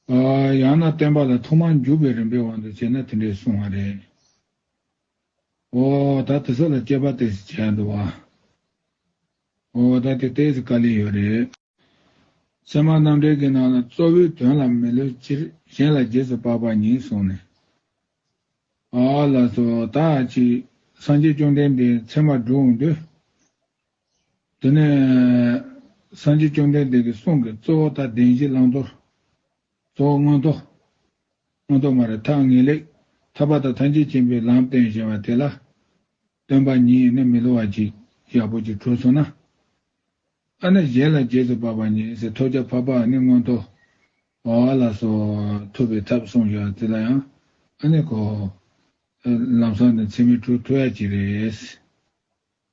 ཡང་ན་བསྟན་པ་ལ་ཐོག་མར་འཇུག་པའི་རིམ་པའི་དབང་དུ་བྱས་ན་དེ་འདྲའི་གསུང་བ་རེད། ཨོ། ད་དེ་ཚོ་ལ་དཔྱད་པ་དེ་བྱས་འགྲོ་བ། ཨོ། ད་དེ་ལྟའི་བཀའ་ལས་ཡོད་རེད། ཚད་མ་རྣམ་འགྲེལ་གྱི་ནང་ལ་གཙོ་བོའི་དོན་ལ་མི་ལུས་སྤྱིར་གཞན་ལ་རྗེས་སུ་དཔག་པ་ཉིད་གསུངས་ནས། ཨ། ལ་སོགས་དག་ཅིག་སངས་རྒྱས་བཅོམ་ལྡན་འདས་ཚད་མ་སྒྲུབ་འོང་དུས། དེ་ནས། སངས་རྒྱས་བཅོམ་ལྡན་འདས་ཀྱི་གསུང་གི་གཙོ་བོ་དང་བདེན་བཞི་བླང་དོར། གཙོ་བོ་མངོན་རྟོགས། མངོན་རྟོགས་མ་རེད་ཐ་ངེས་ལེགས། ཐར་པ་དང་ཐམས་ཅད་མཁྱེན་པའི་ལམ་སྟོན་བཞིན་པ་དེ་ལ། སྟོན་པ་ཉིད་ནི་མི་སླུ་བ་ཅིག་ཡག་པོ་ཅིག་གྲོལ་སོང་ན། ཨ་ནི་གཞན་ལ་རྗེས་སུ་དཔག་པ་ཉིད་སེ་ཐོ་ཇ་བྷ་བ་ནི་མངོན་རྟོགས། བ་བ་ལ་སོགས་ཐུབ་པའི་ཐབས་གསུངས་བཞག་དེ་ལ་ཡང་ཨ་ནི་གོ། ལམ་སང་ནི་འཚེ་མེད་གྲོལ་ཐུབ་ཡག་ཅིག་རེད།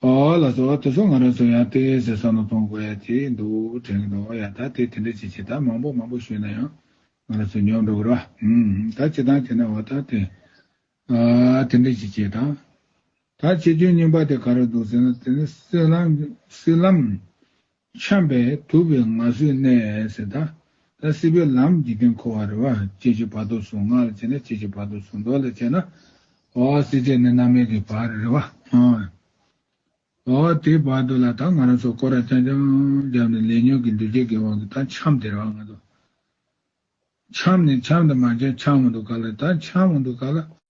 པ་ལ་སོགས་བ་དེ་ཚོ་ང་རང་ཚོ་ཡང་དེ་ཟེར་ས་ནོ་གཏོང་དགོས་ཡ་ཅི་འདུག་དྲན་གི་འདུག་ཡ་ད་དེ་དེ་འདྲ་ཅི་བྱེད་ད་མང་པོ་མང་པོ་ཞུས་ན་ཡང་ང་རང་ཚོ་ཉོག་འགྲོ་གི་ར་ཨིན་ད་ཅི་ད་བྱེད་ན་བ་ད་དེ་དེ་འདྲ་ཅི་བྱེད་ད་ད་བྱེད་རྒྱུ་རྙིང་པ་དེ་ག་རེ་འདུག་ཟེར་ན་དེ་ནི་སྲིད་ལམ་སྲིད་ལམ་འཁྱམས་པས་དུབ་པའི་ང་སོའི་གནས། ད་སྲིད་པའི་ལམ་འཇིག་རྟེན་འཁོར་བ་རེ། བསྐྱེད་བྱེད་བར་དོ་གཟུང་ངག་ལ་བྱེད་ན། བསྐྱེད་བྱེད་བར་དོ་གཟུང་མདོ་ལ་བྱེད་ན། འོ་སྲིད་བཅས་ནི་རྣམ་སྨིན་གྱི་བར་རེ། འོ་དེའི་བར་དོ་ལ་ད་ང་རང་སོགས་ཀོ་ར་ཅང་ཅང་བརྒྱབ་ནས་ལས་ཉོན་གྱི་འདུ་བྱེད་ཀྱི་དབང་གིས་ད་འཁྱམས་དེར་བ་ང་དོ། འཁྱམས་ནས་འཁྱམས་དུ་མ་འཁྱམས་འཁྱམས་མ་འདུག་ག་ལ་ད་འཁྱམས་མ་འདུག་ག་ལ།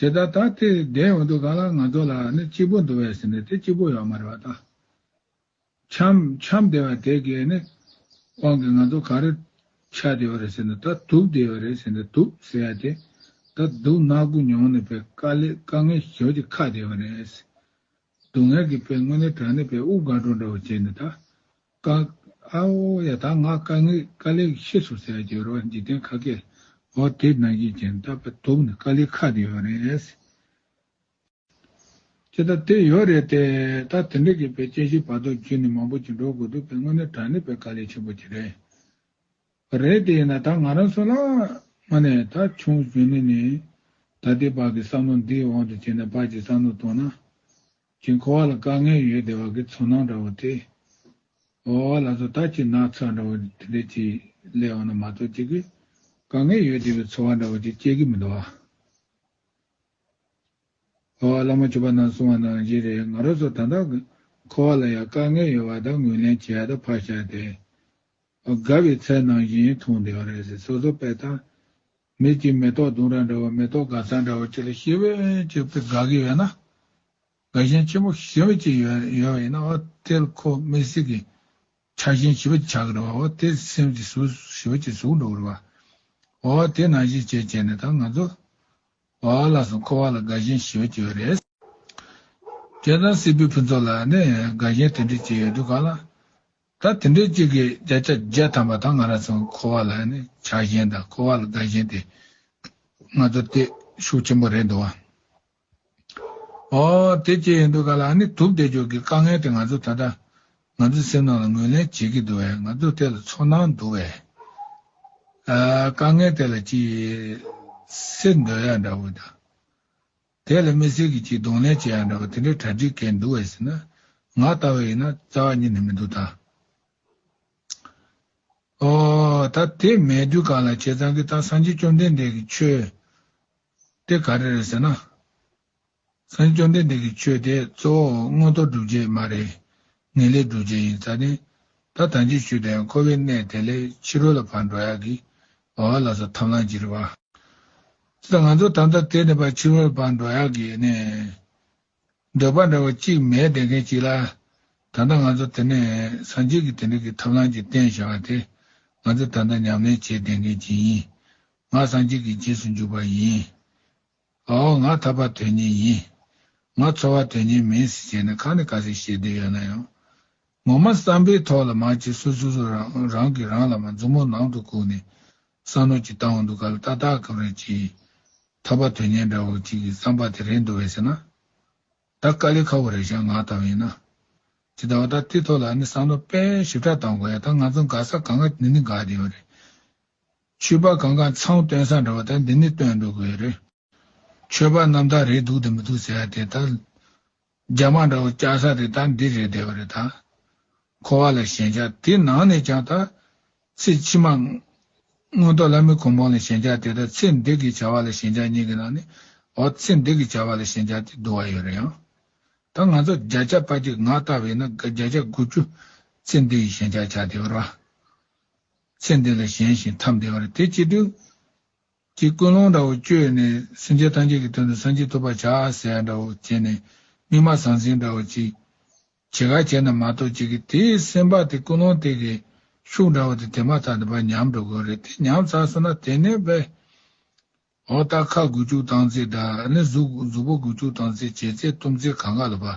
ཇི་ལྟར་ད་ལྟའི་བདེན་འོག་ཏུ་གང་ལ་ང་ཚོ་ལ་ནི་གཅིག་པུ་འདུ་བས་ཟིན་ཏེ་དེ་གཅིག་པུ་ཡོད་མ་རེད་པ་དང། ཁྱམས་ཁྱམས་བདེ་བ་དེ་གའི་ནི་དབང་གིས་ང་ཚོ་ག་རེ་ཆ་བདེ་བ་རེད་ཟིན་ཏེ་ད་དུག་བདེ་བ་རེད་ཟིན་ཏེ་དུག་ཟེར་ཡ་དེ་ད་དུག་ནག་པོ་མྱོང་ནི་བས་དཀའ་ལས་དཀའ་ངལ་ཞོ་གི་ཁ་བདེ་བ་རེད། སྡུག་བསྔལ་གི་བས་དངོས་གནས་དྲ་ནི་བས་དབུགས་དགའ་སྤྲོ་འདྲ་བོ་བྱས་ནི་ད་བཀའ། ཨའོ་ཡ་དག་སྔགས་བཀའ་ངེས་བཀའ་ལས་ཤེས་སོ་ཟེར་བརྒྱད་རོ་འཇིག་རྟེན་ཁ་སྐད། ཨོ་དེ་ནང་བཞིན་ཅན་བཏགས་པའི་དུག་ནི་བཀའ་ལས་ཁ་དེ་ཡོད་རེད། ཀྱེ་ད་དེ་ཡོད་རེད་དེ། ད་དེ་འདྲ་གི་བའི་དཔྱད་གཞིའི་བར་དོ་རྒྱུད་ནི་མང་པོ་ཅིག་འགྲོ་དགོས་འདུག་པས་དངོས་གནས་དྲང་ནི་བའི་བཀའ་ལས་ཆེན་པོ་དེ་རེད། རེད་དེ་ཡིན་ན་ད་ང་རང་སུ་ལ། ང་ནི་ད་ཆུང་བཞུགས་ནས་ནི། ད་དེ་བགས་ཀྱི་བསམ་བློ་འདི་འོག་ཏུ་བྱས་ནས་བགས་ཀྱི་བསམ་བློ་གཏོང་ན། ཀྱི་འཁོར་བ་ལ་དཀའ་ངལ་ཡོད་བདེ་བ་གི་ཚོར་སྣང་འདྲ་བོ་དེ། འོ་བ་ལ་སོ་ད་ཀྱི་ནགས་ཚལ་འདྲ་བོ་དེ་འདྲས་ཀྱིས་བསླད་འོང་ན་མ་གཏོགས་ཅི་གི། དཀའ་ངལ་ཡོད་བདེ་བའི་ཚོར་བ་འདྲ་བོ་ཅིག་སྐྱེ་གི་མི་འདུག་ཨ། འོ་བ་ལ་མོ་བྱུ་བ་ན་སོང་བ་ནང་བཞིན་རེད་ང་རོ་སོ་ད་འདང་གི་འཁོར་བ་ལ་ཡང་དཀའ་ངལ་ཡོད་བ་དང་ངུས་ལེན་བྱས་དང་ཕར་བཞག་སྟེ། དགའ་བའི་ཚལ་ནང་བཞིན་མཐོང་བདེ་བ་རེད་ཟེར་སོ་སོ་པས་ད་མེད་ཀྱི་མེ་ཏོག་དུང་ར་འདྲ་བ་མེ་ཏོག་སྒ་ཚང་འདྲ་བ་ཅིག་ལ་ཤི་བོ་གཅིག་དགའ་གི་ཡོད་ན། དགའ་ཞེན་ཆེན་པོ་ཤི་བོ་གཅིག་ཡོད་པ་ཡིན་ན་འོ་དེར་ཁོ་མི་སྲིད་གི། ཆགས་ཞེན་ཤི་བོ་ཆགས་གི་རེད་བ་འོ་དེ་སེམས་ཀྱི་ཟུག་ཤི་བོ་གཅིག་ཟུག་འགྲོ་གི་རེད་བ། འོ་དེ་ནང་བཞིན་བྱས་བྱས་ནས་ད་ང་ཚོ། བ་ལ་སོང་ཁོ་བ་ལ་དགའ་ཞེན་ཤི་བོ་གཅིག་ཡོད་རེད། རྒྱལ་དང་སྲིད་པའི་ཕུན་ཚོགས་ལ་ནི་དགའ་ཞེན་དེ་འདྲ་གཅིག་ཡོད་དུས་གང་ལ། ད་དེ་འདྲའི་གཅིག་གི་བརྒྱ་ཆ་བརྒྱ་ཐམ་པ་དང་ང་རང་ཚོའི་འཁོར་བ་ལ་ནི་བྱ་གཞན་དང་འཁོར་བ་ལ་དགའ་གཞན་དེ་ང་ཚོར་སྟེ་ཤུགས་ཆེན་པོ་རེད་འདུག་བ། ཨོ། དེ་ཅི་ཡིན་འདུག་ག་ལ་ནི་དུབ་བདེ་འཇོག་གི་དཀའ་ངལ་དེ་ང་ཚོ་ད་ལྟ་ང་ཚོའི་སེམས་ནང་ལ་ངོས་ལེན་བྱེད་ཀྱི་འདུག་བས་ང་ཚོ་དེ་ལ་ཚོར་སྣང་འདུག་བས། དཀའ་ངལ་དེ་ལ་ཅི་ཡིས་སེལ་འདོད་ཡ་འདྲ་བོ་དང། དེ་ལ་མི་སེར་གྱིས་ཅིག་གདོང་ལེན་བྱེད་ཡག་འདྲ་བ་དེ་འདྲའི་གྲ་སྒྲིག་མཁན་འདུག་བས་ཟེར་ན། ང་ལྟ་བས་ཡིན་ན་རྩ་བ་ཉིད་ནས་མི་འདུག་ད། ཨོ། ད་དེ་མེད་དུས་གང་ལ་བྱས་ཙང་གིས་ད་སངས་རྒྱས་བཅོམ་ལྡན་འདས་ཀྱི་ཆོས་དེ་ག་རེ་རེད་ཟེར་ན། སངས་རྒྱས་བཅོམ་ལྡན་འདས་ཀྱི་ཆོས་དེ་གཙོ་བོ་དངོས་གཙོ་སྒྲུབ་བྱེད་མ་རེད། ངེས་ལེགས་འགྲུབ་བྱེད་ཡིན་ཚ་ནས། ད་དང་ཅིག་ཆུད་དེ་ཡང་འཁོར་བའི་གནས་དེ་ལས་ཕྱི་རོལ་ལ་བར་འགྲོ་ཡག་གི། བ་བ་ལ་སོགས་ཐབས་ལམ་གྱིས་རི་བ། ཅི་དང་ང་ཚོ་དམ་ཚ་དེ་ནས་བར་ཕྱི་རོལ་ལ་བར་འགྲོ་ཡག་གི། ནས། འདོད་པ་འདྲ་བ་གཅིག་མས་བསྡད་མཁན་གཅིག་ལ། ད་ལྟ་ང་ཚོ་དེ་ནས་སངས་རྒྱས་ཀྱི་དེ་འདྲ་གི་ཐབས་ལམ་གྱིས་བསྟན་བཞག་པ་དེ། ང་ཚོས་ད་ལྟ་ཉམས་ལེན་བྱས་བསྡད་མཁན་གཅིག་ཡིན། ང་སངས་རྒྱས་ཀྱི་རྗེས་སུ་འཇུག་པ་ཡིན། ཨའོ་ང་ཐར་པ་དོན་གཉེར་ཡིན། ང་འཚོ་བ་དོན་གཉེར་མིན་ཟེར་བྱས་ན་གང་ནས་ག་ཟེར་བཤད་འདོད་ཡོད་ན་ཡང། ངོ་མ་བསམ་པའི་ཐོག་ལ་མ་བྱེད་སུ་སུ་སུ་རང་རང་གིས་རང་ལ་མ་མཛུབ་མོ་ནང་དུ་བཀུག་ནས་བསམ་བློ་གྱི་བཏང་བ་འདུག་ག་ལ་ཏག་ཏག་གམ་རེད་ཅེས། ཐར་པ་དོན་གཉེར་འདྲ་བོ་ཅིག་གིས་བསམ་པ་དེ་རེད་འདུག་བས་ཟེར་ན། ད་དཀའ་ལས་ཁ་བོ་རེད་བྱ་ང་ལྟ་བུ་ཡིན་ན། ཇི་ལྟ་བ་ད་དེའི་ཐོག་ལ་ཨ་ནི་བསམ་བློ་དཔེ་ཞིབ་ཕྲ་བཏང་དགོས་ཡ་ད་ང་ཚོ་འགའ་ས་ག་འགའ་འདི་ནི་འགའ་འདི་ཡོད་རེད། ཆོས་པ་གང་གང་ཚང་སྟོན་ས་འདྲ་བ་དང་འདི་ནི་སྟོན་འགྲོ་དགོས་རེད། ཆོས་པ་རྣམས་དག་རེད་འདུག་དེ་མི་འདུག་ཟེར་ཡ་དེ་དག། རྒྱ་དམག་འདྲ་བོ་བསྐྱལ་ས་རེད་དང་འདི་རེད་བསྡད་པ་རེད་དང། འཁོར་བ་ལ་ཞེན་ཆགས་དེ་ནང་ནས་ཀྱང་དག། ཚེ་ཕྱི་མ། མངོན་རྟོགས་བླ་མེད་གོང་འཕང་ལ་ཞེན་ཆགས་དེ་དག་ཚེ་འདི་གི་བྱ་བ་ལ་ཞེན་ཆགས་གཉིས་ཀྱི་ནང་ནས། འོ་ཚེ་འདི་གི་བྱ་བ་ལ་ཞེན་ཆགས་དེ་བསྡུ་བ་ཡོད་རེད་ཡང། ད་ང་ཚོ་བརྒྱ་ཆ་དཔའ་གཅིག་ང་ལྟ་བས་ན་བརྒྱ་ཆ་དགུ་བཅུ། ཚེ་འདི་ཡི་ཞེན་ཆགས་ཆགས་བསྡད་པ་རང། ཚེ་འདི་ལ་གཞན་ཞིང་ཐམས་བདེ་བར་དེ་ཅི་འདོད། ཅེས་ཀུན་སློང་འདྲ་བོ་བཅོས་ནས་སེམས་ཅན་ཐམས་ཅད་ཀྱི་དོན་དུ་སངས་རྒྱས་ཐོབ་པར་བྱ་ཟེར་ཡ་འདྲ་བོ་བྱས་ནས་སྨིན་མ་ཟང་ཟིང་འདྲ་བོ་ཅིག། བྱེད་ག་བྱས་ན་མ་གཏོགས་ཅི་གི་དེས་སེམས་དཔའ་དེ་ཀུན་སློང་དེ་གི་ཤུགས་འདྲ་བོ་དེ་དེ་མ་ཐག་དེ་བ་ཉམས་འགྲོ་དགོས་རེད་དེ་ཉམས་ཚར་སོང་ན་དེ་ནས་བས། འོ་ད་ཁ་དགུ་བཅུག་སྟངས་ཚེ་འདྲ་ནི་གཟུགས་གཟུགས་པོ་དགུ་བཅུག་སྟངས་ཚེ་བྱས་ཚེ་གཏུམ་ཚེ་གང་ག་ལ་བ།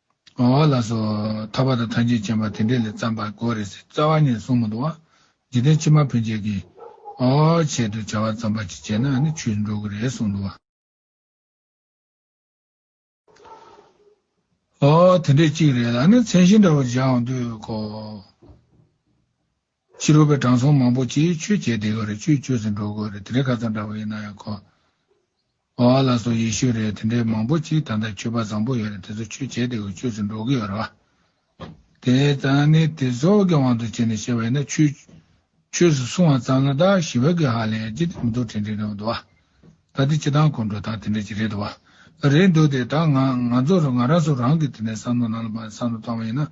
མ་བ་ལ་སོགས་ཐར་པ་དང་ཐམས་ཅད་མཁྱེན་པ་དེ་འདྲས་ལས་བརྩམས་པར་གོ་རེ་ཟིག་རྩ་བ་ནས་གསུང་མི་འདུག་ཨ། འཇིག་རྟེན་ཕྱི་མ་ཕན་ཆད་ཀྱི། ཨོ། ཆེད་དུ་བྱ་བ་བརྩམས་པ་ཅིག་བྱས་ན་ནི་ཆོས་སུ་འགྲོ་གི་རེད་གསུང་འདུག་ཨ། ཨོ། དེ་འདྲས་གཅིག་རེད་ལ་ནི་མཚན་གཞི་འདྲ་བོ་བཞག་འོང་དུས་གོ། ཕྱི་རོལ་པའི་དྲང་སྲོང་མང་པོ་ཅིག་ཆོས་འཆད་དེ་ག་རེ་ཆོས་སྤྱོད་ཟིན་འགྲོ་དགོས་རེད་དེ་རེ་ག་ཚང་འདྲ་བོ་ཡིན་ན་ཡང་ཁོ་བ་བ་ལ་སོ་ཡེ་ཤུ་རེད་དེ་འདྲའི་མང་པོ་ཅིག་ད་ལྟ་ཆོས་པ་བཟང་པོ་ཡོད་རེད་དེ་ཚོ་ཆོས་འཆད་དེ་ག་སྤྱོད་ཟིན་འགྲོ་གི་ཡོད་རེད་བ། དེ་ཙང་ནི་དེ་ཚོ་གི་དབང་དུ་བྱས་ནས་བཤད་པ་ཡིན་ན་ཆོས་ཆོས་སུ་སོང་བ་ཙམ་ལ་དག་ཞི་བ་གི་ཧ་ལས་ཀྱི་མི་འདུག་དྲན་དྲན་དྲན་བ་འདུག་བ། ད་དེ་ཅི་དང་གོ་འགྲོ་ད་དེ་འདྲ་ཅི་རེད་བ། རེད་འདོད་དེ་ད་ང་ང་ཚོ་རང་ང་རང་སོ་རང་གི་དེ་ནས་བསམ་བློ་ནང་ལ་བསམ་བློ་བཏང་བ་ཡིན་ན་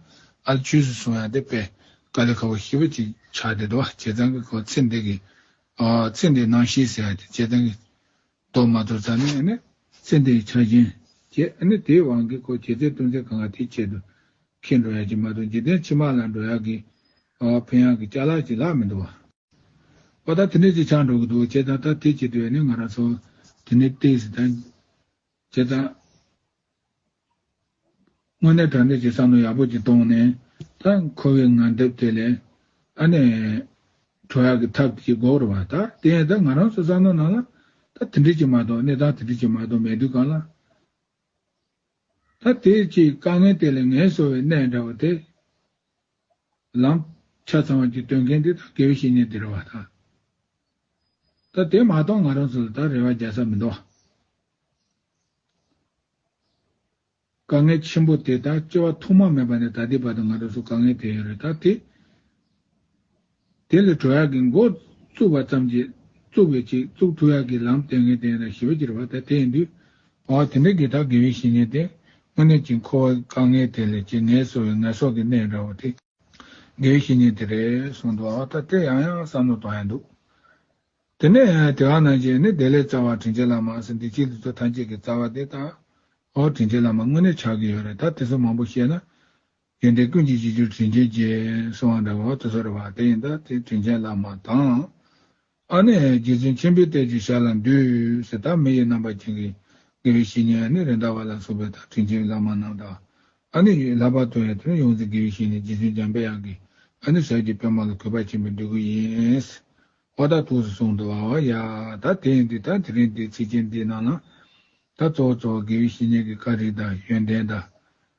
ཨ་ལ་ཆོས་སུ་སོང་ཡང་དེ་པས་ཀ་ལེ་ཁ་བོ་ཤི་བོ་ཅིག་ཆགས་བསྡད་དོ་བ་བྱས་ཙང་གི་ཁོ་ཚེ་འདི་གི་ཨ་ཚེ་འདི་ནང་ཤི་ཟེར་ཡ་དེ་བྱས་ཙང་གི་ལྟོ་མ་ལྟོ་ཙང་ནས་ཨ་ནི་ཚེ་འདི་ཡི་ཆ་རྐྱེན་བྱས་ཨ་ནི་དེའི་དབང་གིས་ཁོ་བྱས་ཚེ་ལྟོ་འཚེ་གང་ག་དེའི་ཆེད་དུ་ཁེ་འགྲོ་ཡ་ཅིག་མ་གཏོགས་འཇིག་རྟེན་ཕྱི་མ་ལ་འགྲོ་ཡ་གི་ཨ་ཕོ་ཡང་གི་ལྕགས་ལག་ཅིག་ལག་མི་འདུག་བ། ཨོ་ད་དེ་འདྲས་ཅིག་ཆགས་འགྲོ་གི་འདུག་བྱས་ཙང་ད་དེ་བྱེད་དུས་ནི་ང་རང་ཚོ་དེ་འདྲས་བལྟས་ཟིན་ད། བྱས་ཙང། དངོས་གནས་དྲ་འདྲས་ཀྱི་བསམ་བློ་ཡག་པོ་ཅིག་གཏོང་ནས་ད་ཁོ་བོའི་ངག་དེབ་དེ་ལས། ཨ་ནེ། གྲོ་ཡག་གི་ཐབས་ཅིག་འགོག་རོགས་བ་ད་དེ་ཡང་ད་ང་རང་ཚོ་བསམ་བློ་ནང་ལ་ད་དེ་འདྲས་ཅིག་མ་གཏོགས་གནས་སྟངས་དེ་འདྲས་ཅིག་མ་གཏོགས་མེད་དུས་གང་ལ། ཐ་དད་ཀྱི་དཀའ་ངལ་དེ་ལས་ངལ་གསོ་བའི་གནས་འདྲ་བ་དེ། ལམ་ཆ་ཚང་བ་གྱི་སྟོན་མཁན་དེ་དང་དགེ་བའི་བཤེས་གཉེན་དེ་རེད་བ་དང། ད་དེ་མ་གཏོགས་ང་རང་ཚོ་ལ་ད་རེ་བ་རྒྱག་ས་མི་འདུག་བ། དཀའ་ངལ་ཆེན་པོ་དེ་ད་སྐྱེ་བ་ཐོག་མ་མེད་པ་ནས་ད་ལྟའི་བར་དུ་ང་རང་ཚོ་དཀའ་ངལ་དེ་ཡོད་རེད་ད་དེ། དེ་ལས་གྲོ་ཡག་གི་མགོ་བཙུགས་པ་ཙམ་གྱིས་བཙུགས་པའི་ཅིག་བཙུགས་ཁྲུ་ཡག་གི་ལམ་སྟེང་གི་སྟེང་ན་ཞི་བ་གྱུར་པ་དང་དེ་ཡིན་དུས། འོ་དེ་འདྲའི་གེ་སར་དགེ་བའི་བཤེས་གཉེན་དེ་དངོས་གནས་ཀྱི་འཁོར་བ་དཀའ་ངལ་དེ་ལས་ཀྱི་ངལ་གསོ་བའི་ངལ་སོགས་ཀྱི་གནས་འདྲ་བོ་དེ་དགེ་བའི་བཤེས་གཉེན་དེ་རེད་གསུངས་འདུག་འོ་ད་དེ་ཡང་ཡང་བསམ་བློ་གཏོང་ཡ་འདུག་དེ་ནས་དེ་ག་ནང་བྱས་ནས་དེ་ལས་རྩ་བ་དྲིན་ཆེན་བླ་མ་སེམས་སྡིག་ཅིག་ལུས་ཚོ་ཐམས་ཅད་ཀྱི་རྩ་བ་དེ་དང། འོ་དྲིན་ཆེན་བླ་མ་དངོས་གནས་ཆགས་ཀྱི་ཡོད་རེད་ད་དེ་ཚོ་མང་པོ་བཤད་ན། རྒྱན་དེ་ཀུན་གྱི་བྱེད་རྒྱུ་དྲིན་ཆེན་གྱིས་གསང་བ་འདྲ་བ་དུ་ཟེར་བ་དེ་ཡིན་ད་དེ་དྲིན་ཆེན་བླ་མ་དང། ཨ་ནི་རྗེ་བཙུན་ཆེན་པོའི་གཏད་རྒྱུ་ཞར་ལ་འདུས་ཟེར་ད་མི་ཡི་རྣམ་པ་ཅན་གྱི་དགེ་བའི་བཤེས་གཉེན་ཨ་ནི་རེད་འདྲ་བ་ལ་སོགས་པའི་ད་དྲིན་ཆེན་བླ་མ་རྣམས་དང། ཨ་ནི་ཡུལ་ལྷ་བར་དོ་ཡང་དེ་ནས་ཡོངས་འཛིན་དགེ་བའི་བཤེས་གཉེན་རྗེ་བཙུན་འཇམ་དཔལ་དབྱངས་ཀྱིས་ཨ་ནི་ཞབས་ཀྱི་པདྨ་ལ་གུས་པ་ཆེན་པོས་འདུད་དགོས་ཡིན། ཧོ་ད་ཐུགས་སུ་སོང་འདུག་ཨ་ཨོ་ཡ། ད་དེ་ཡིན་དུས་ད་དེ་རིང་འདིའི་ཚིགས་བཅད་འདིའི་ནང་ན། ད་གཙོ་བོ་གཙོ་བོ་དགེ་བའི་བཤེས་གཉེན་གྱི་བཀའ་དྲིན་དང་ཡོན་ཏན་དང།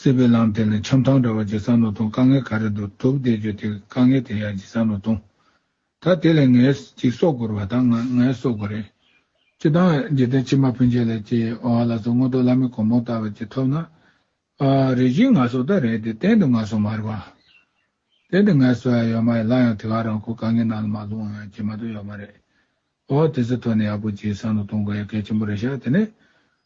སྲིད་པའི་ལམ་དེ་ནི་འཆམ་ཐང་འདྲ་བ་ཇི་ཙམ་ནོར་ཐོང་དཀའ་ངལ་ག་རེ་འདུག་དུག་བསྡད་རྒྱུ་དེ་དཀའ་ངལ་དེ་ཡང་ཇི་ཙམ་ནོར་ཐོང། ད་དེ་ལས་ངའི་ཅིག་གསོག་དགོར་བ་དང་ང་ངའི་གསོག་དགོ་རེད། སྤྱི་བཏང་བས་འཇིག་རྟེན་ཕྱི་མ་ཕུན་ཆད་ལས་ཀྱི་ཨོ་ཨ་ལ་སོགས་དངོས་གྲུབ་བླ་མེད་གོང་མོ་ལྟ་བ་ཅིག་ཐོབ་ན། ཨ་ཨ་རེ་གཞི་ང་གསོག་ད་རེད་དེ་གཏན་དུ་ང་གསོག་མ་རེད་བ། དེ་དེ་ངའི་གསོ་ཡ་ཡོད་མ་ཡོད་སླ་ཡང་དེ་ག་རང་ཁོ་དཀའ་ངལ་ནང་ལ་མ་ལྷུང་ཡང་ཇི་མ་ཏོག་ཡོད་མ་རེད། ཨོ་ཨ་དེ་ཚོ་ཐོག་ནས་ཡག་པོ་ཇི་ཙམ་ནོར་ཐོང་དགོས་ཡ་གལ་ཆེན་པོ་རེད་ཤག་དེ་ནས།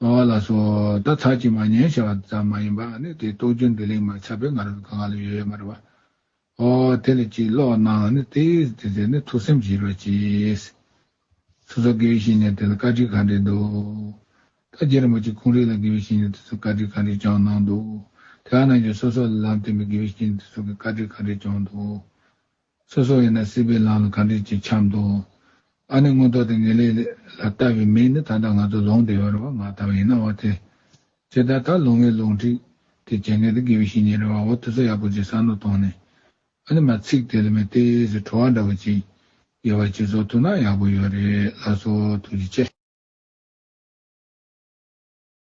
སྦ་བ་ལ་སོགས་ད་ཚར་གྱིས་མ་ཉན་བྱ་བ་ཙམ་མ་ཡིན་པ་ནི་དེའི་རྟོགས་རྒྱུ་འདི་ལིང་མ་ཆགས་པས་ང་རང་གི་གངྒཱ་ལ་ཡོད་ཡོད་མ་རེད་པ། ཨོ། དེ་ལས་ཅིག་ལོག་ན་ནི་དེ་དེ་ཚེ་ནི་ཐུགས་སེམས་ཀྱིས་ཡིད་རོ་གྱིས། སོ་སོ་དགེ་བའི་བཤེས་གཉེན་དེ་ལ་བཀའ་དྲིན་ག་འདྲས་འདུག། ད་རྗེ་རིན་པོ་ཆེ་ཁོང་རིགས་ལ་དགེ་བའི་བཤེས་གཉེན་དེ་ཚོས་བཀའ་དྲིན་ག་འདྲས་བསྐྱངས་གནང་འདུག་དེ་ག་ནང་བཞིན་སོ་སོ་ལ་ལམ་བསྟན་པའི་དགེ་བའི་བཤེས་གཉེན་དེ་ཚོ་གིས་བཀའ་དྲིན་ག་འདྲས་བསྐྱངས་འདུག། སོ་སོ་ཡིན་ན་སྲིད་པའི་ལམ་ལ་ག་འདྲས་ཀྱིས་འཁྱམས་དོ། ཨ་ནི་མངོན་རྟོགས་དེ་ངེས་ལེགས་ལ་ལྟ་བའི་མིས་ནི་ད་ལྟ་ང་ཚོ་ལོང་སྟེ་ཡོད་རེ་བ་ང་ལྟ་བ་ཡིན་ན་བ་དེ། ཇི་ལྟར་ད་ལོང་ངའི་ལོང་ཁྲིགས་དེ་ཇེ་ངན་དེ་དགེ་བའི་བཤེས་གཉེན་རེ་བ་འོ་དེ་ཚོ་ཡག་པོ་ཅིག་བསམ་བློ་བཏང་ནས། ཨ་ནི་མ་ཚིག་དེ་ལ་མི་ལྟས་ཟེར་བྲོ་བ་འདྲ་བོ་ཅིག་ཡོད་བ་ཅིག་བཟོ་ཐུབ་ན་ཡག་པོ་ཡོད་རེད་ལགས་སོ་ཐུགས་རྗེ་ཆེ།